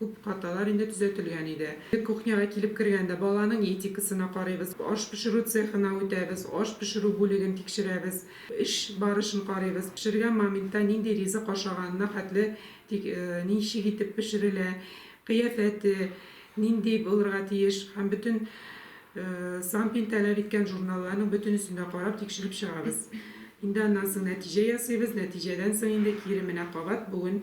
Күп хаталар инде төзәтелгән иде. Без кухняга килеп кергәндә, баланың этикасына карыйбыз, аш пешерү цехына үтәбез, аш пешерү бүлеген тикшерәбез, эш барышын карыйбыз, пешергән моментта нинди ризык ашаганына хәтле, тик ничек итеп пешерелә, кыяфәте нинди булырга тиеш һәм бөтен Сампин таләп иткән журналларның бөтенесен дә карап, тикшереп чыгабыз. Инде аннан соң нәтиҗә ясыйбыз, нәтиҗәдән соң инде кире менә кабат бүген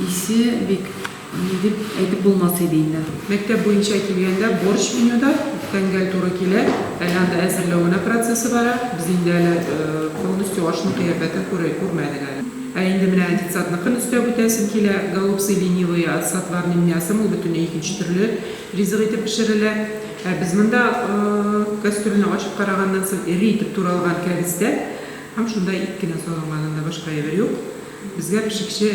Исе бик, ни дип әйтеп булмас иде инде. Мәктәп буенча килгәндә, борщ менюда үткән гәл туры килә. Әле анда әзерләү генә процессы бара. Без инде әле полностью ашның кыяфәтен күрмәдек әле. Ә инде менә детсадныкын өстәп үтәсем килә. Голубцы ленивые с отварным мясом, ул бөтенләй икенче төрле ризык итеп пешерелә. Ә без монда кастрюльне ачып караганнан соң, эре итеп туралган кәбестә һәм шунда ит кенә салынган, анда башка әйбер юк. Безгә пешекче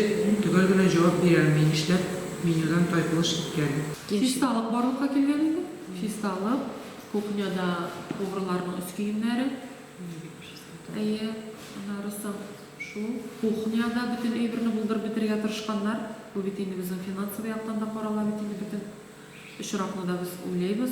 төгәл генә җавап бирә алмый, нишләп менюдан тайпылыш киткән. Фиста алып барлыкка килгән инде. Фиста алып, кухняда поварларның өс киемнәре. Әйе, аннары соң шул. Кухняда бөтен әйберне булдырып бетерергә тырышканнар. Бу бит инде безнең финансовый яктан да карала бит инде бөтен очракны да без уйлыйбыз.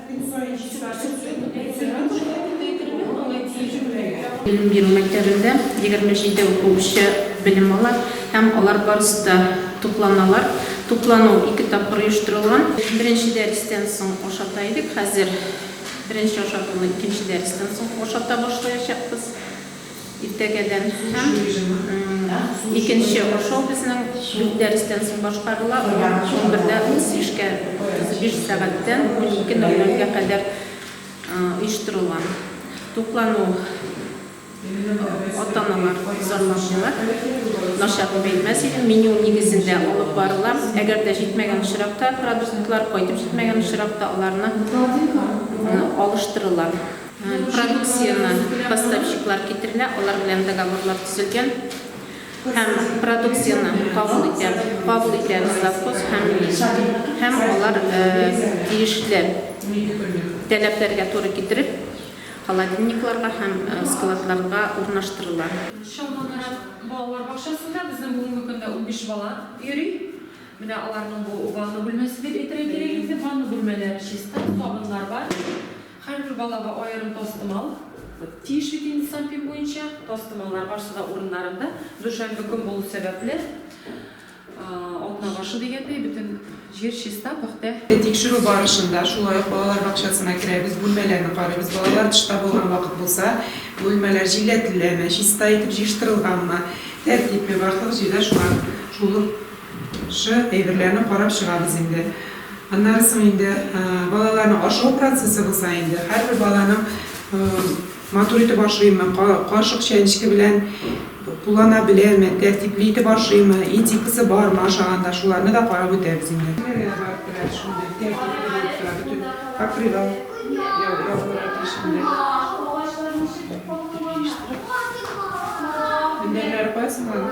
Белем бирү мәктәбендә 27 укучы белем ала һәм алар барысы да тукланалар. Туклану ике тапкыр оештырылган. Беренче дәрестән соң ашата идек, хәзер беренче ашатуны икенче дәрестән соң ашата башлаячакбыз. Иртәгәдән һәм икенче ашау безнең дүрт дәрестән соң башкарыла, алар унбердә утыз бишкә, утыз биш сәгатьтән унике ноль нольгә кадәр оештырыла. Туклану ата-аналар зарланмыйлар, начар дип әйтмәс идем, меню нигезендә алып барыла. Әгәр дә җитмәгән очракта, продуктлар кайтып җитмәгән очракта, аларны алыштырыла. Продукцияне поставщиклар китерелә, алар белән договорлар төзелгән һәм продукцияне кабул итә, кабул итә завхоз һәм милиция. Һәм алар тиешле таләпләргә туры китереп, холодильникларга һәм складларга урнаштырыла. Чалма Нарат балалар бакчасында безнең бүгенге көндә унбиш бала йөри. Менә аларның бу ванна бүлмәсе дип әйтергә кирәк инде. Ванна бүлмәләре чиста, сабыннар бар. Һәрбер балага аерым тастымал тиеш иде инде санпин буенча. Тастымаллар барсы да урыннарында. Дүшәмбе көн булу сәбәпле, атна башы дигәндәй, бөтен җир чиста, пөхтә. Тикшерү барышында шулай ук балалар бакчасына керәбез, бүлмәләрне карыйбыз. Балалар тышта булган вакыт булса, бүлмәләр җилләтеләме, чиста итеп җыештырылганмы, тәртипме, барлык җирдә шулар шул ук. Шы, әйберләрне карап чыгабыз инде. Аннары соң инде балаларның ашау процессы булса инде, һәрбер баланың матур итеп ашыймы, кашык чәнечке белән куллана беләме, тәртипле итеп ашыймы, этикасы бармы ашаганда, шуларны да карап үтәбез инде. Кемнәргә барып керә шундый тәртипле булып тора, бөтен покрывал ябылырга тиеш инде. Мендәрләре кая соң аның?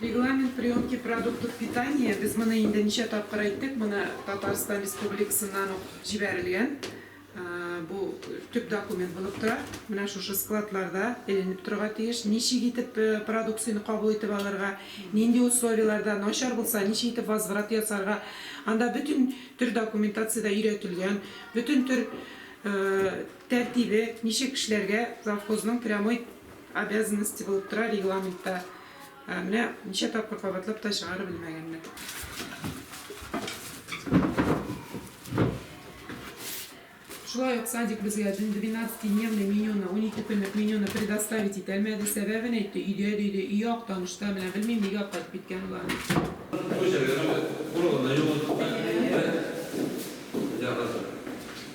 Регламент приемки продуктов питания, без моны инде ничә тапкыр әйттек, моны Татарстан Республикасыннан ук җибәрелгән. Бу төп документ булып тора. Менә шушы складларда эленеп торырга тиеш. Ничек итеп продукцияне кабул итеп алырга, нинди условиеләрдә, начар булса, ничек итеп возврат ясарга. Анда бөтен төр документацияда өйрәтелгән. Бөтен төр тәртибе, ничек эшләргә завхозның прямой Обязанности булып тора регламентта. Менә ничә тапкыр кабатлап та чыгарып белмәгәннәр. Шулай ук садик безгә 12-дневный менюны, 12 көнлек менюны предоставить итәлмәде. Сәбәбен әйтте, өйдә диде, өй ак танышта, менә белмим, нигә кайтып киткән болар. Бу җиргә нәүбәт. Урагына юлык.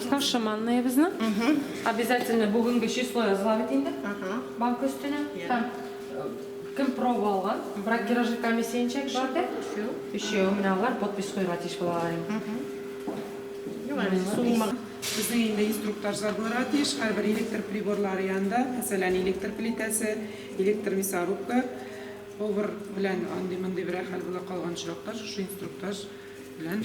С нашим манныебызны. Обязательно бүгенге число языла бит инде. Банк өстенә. Һәм кем проба алган? Бракеражи комиссия ничә кеше бар? Өчәү. Менә алар подпись куярга тиеш булалар инде. Безнең инде инструкторлар булырга тиеш. Һәрбер электр приборлары янында, мәсәлән, электр плитәсе, электр мясорубка, повар белән андый-мондый берәр хәл була калган очракта, шушы инструктаж белән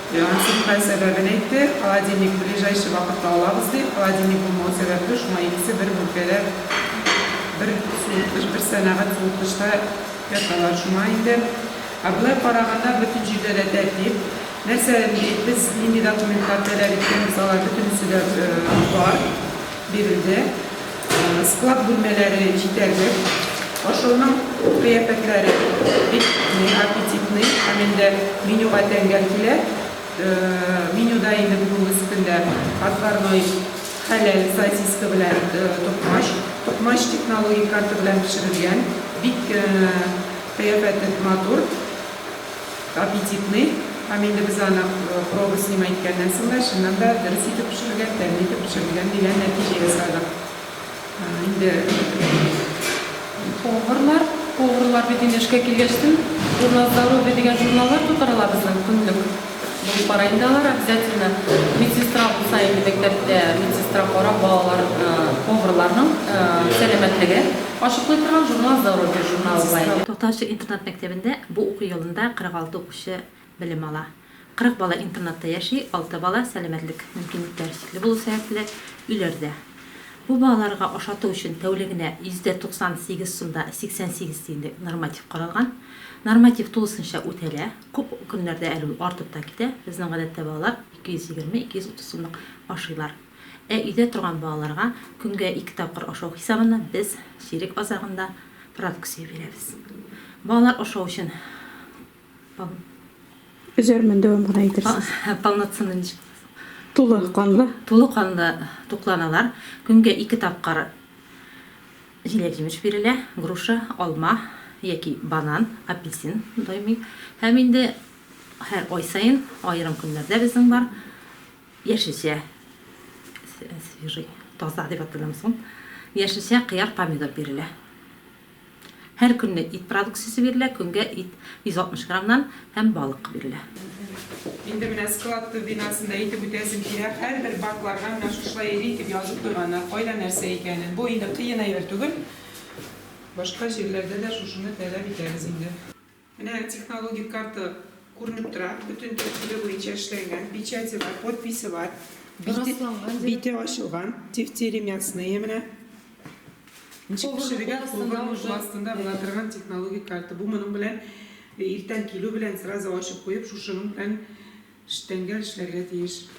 Насыйхә сәбәбен әйтте, холодильник ближайший вакытта алабыз, ди. Холодильник булмау сәбәпле, шуңа икесе бер бүлкәдә, бер суыткыч, бер сәнәгать суыткычта яталар. Шуңа инде. Ә болай караганда, бөтен җирдә дә тәртип. Нәрсә, без нинди документлар таләп иткәнбез, алар бөтенесе дә бар, бирелде. Склад бүлмәләре җитәрлек. Ашауның кыяфәтләре бик аппетитный. Һәм инде менюга тәңгәл килә. Менюда инде бүгенге көндә отварной хәләл сосиска белән токмач. Токмач технологик карта белән пешерелгән. Бик кыяфәте матур. Аппетитный, һәм инде без аны проба снимай иткәннән соң да, чыннан да, дөрес итеп пешерелгән, тәмле итеп пешерелгән дигән нәтиҗә ясадык. Инде поварлар, поварлар бит инде эшкә килгәч тен, журнал здоровье дигән журналлар тутырыла безнең көнлек. Булып бара инде алар обязательно. Медсестра булса инде мәктәптә, медсестра карап, балалар, поварларның сәламәтлеген ачыклый торган журнал здоровье журналы була инде. Тактаачы интернат мәктәбендә Бу уку елында 46 укучы белем ала. 40 бала интернатта яши, алты бала сәламәтлек мөмкинлекләре чикле булу сәбәпле, өйләрдә. Бу балаларга ашату өчен тәүлегенә 98 сумда 88 тиенлек норматив каралган. Норматив тулысынча үтәлә, күп көннәрдә әле ул артып та китә, безнең гадәттә балалар 220-230 сумлык ашыйлар. Ә өйдә торган балаларга көнгә ике тапкыр ашау хисабына без чирек азагында продукция бирәбез. Балалар ашау өчен пол. Өзәрмен, дәвам гына итәрсез. Полноценный ничек була соң? Тулы канлы. Тулы канлы тукланалар. Көнгә ике тапкыр җиләк-җимеш бирелә, груша, алма яки банан, апельсин даими. Һәм инде һәр ай саен, аерым көннәрдә безнең бар. Яшелчә свежий, таза дип атадымыз ул. Яшелчә, кыяр, помидор бирелә. Һәр көнне ит продукциясе бирелә, көнгә ит 160 граммнан һәм балык бирелә. Инде менә склад төп бинасын да әйтеп үтәсем килә. Һәрбер бакларга менә шушылай эре итеп язып куйганнар, кайда нәрсә икәнен. Бу инде кыен әйбер түгел. Башка җирләрдә дә шушыны таләп итәбез инде. Менә технологик карта күренеп тора, бөтен тәртибе буенча эшләнгән, печате бар, подписе бар, бите, бите ачылган, тефтели мясные менә. Ничек пешерергә, кулга астында була торган технологик карта. Бу моның белән иртән килү белән сразу ачып куеп, шушының белән штәнгә эшләргә тиеш.